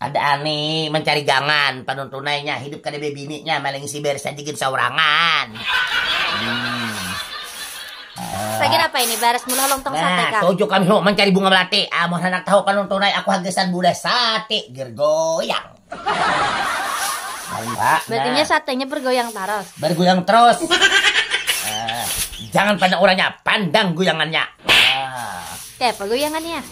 Kada ani mancari gangan panuntunai nya hidup kada bebini nya maling isi baris aja gin saurangan. Sagin apa ini baras muluh long tong sate kang. Nah tuju kami hu mancari bunga melati amun handak tahu panuntunai aku ha gasan budah sate gergoyang. Berarti nya satenya bergoyang taros. Bergoyang terus. Jangan pandang urangnya pandang goyangannya. Kayapa goyangannya.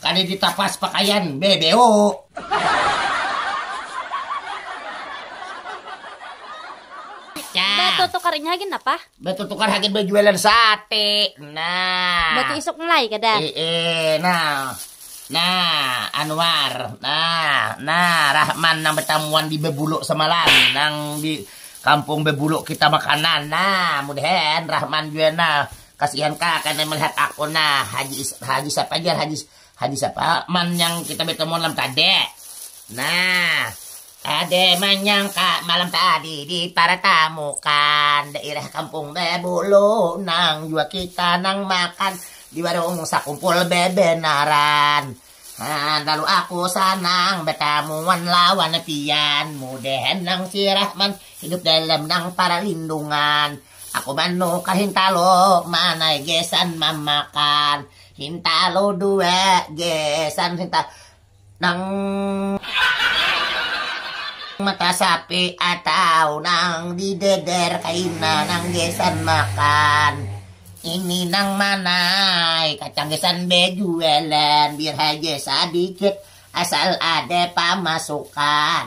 Kada ditapas pakaian BBU. Batutukar inya hagan napa? Batutukar hagan bajualan sate nah. Batu isuk mulai kada? Iih nah nah Anwar nah nah Rahman nang batamuan di Babuluk samalam nang di kampung Babuluk kita makanan nah mudahan Rahman jua nah. Kasihan ka kena melihat aku nah haji haji siapa jar haji haji siapa man yang kita bertemu malam tadi nah ada menyangka malam tadi di para tamu kan daerah kampung bebulu nang jua kita nang makan di warung sakumpul bebenaran Nah, lalu aku sanang bertamuan lawan pian mudahan nang sirah man hidup dalam nang para lindungan Aku manuk ka hintalo manai gesan mamakan hintalo dua gesan hinta nang mata sapi atau nang di deder kaina nang gesan makan ini nang manai kacang gesan bejualan biar haja sadikit asal ada pamasukan.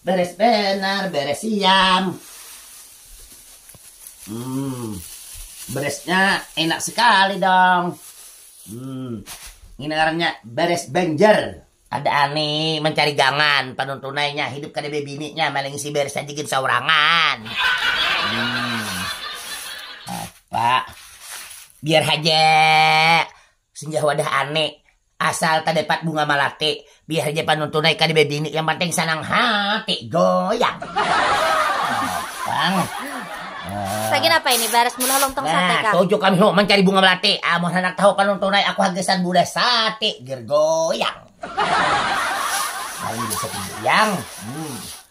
Beres banar, beres siam. Hmm, beresnya enak sekali dong. Hmm, ini ngarannya beres banjar. Ada ani mencari gangan, panun tunainya hidup kada bebininya, malah ngisi beres aja gin saurangan. Hmm. Apa? Biar haja Singgah wadah ane, asal tadapat bunga malate, biar haja panuntun ai kada bebini yang panting sanang hati goyang. Pang. Sagan apa ini baras mula lontong sate Nah, kah? tuju kami hu mancari bunga melati. Amun handak tahu panuntun ai aku hagasan budah sate ger goyang. Amun bisa tinggi yang. Hmm.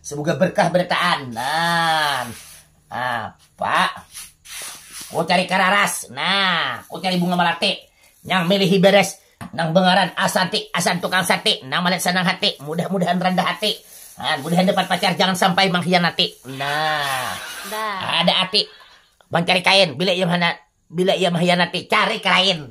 Semoga berkah berataan. Nah, apa? Ku cari kararas. Nah, ku cari bunga melati. Nang milihi beres. Nang bengaran Asanti. Asan tukang sate. Nang malihat senang hati. Mudah-mudahan rendah hati. Nah, mudahan dapat pacar. Jangan sampai mengkhianati. Nah, nah. ada ati. Mencari kain. Bila ia, bila ia mengkhianati. Cari kain.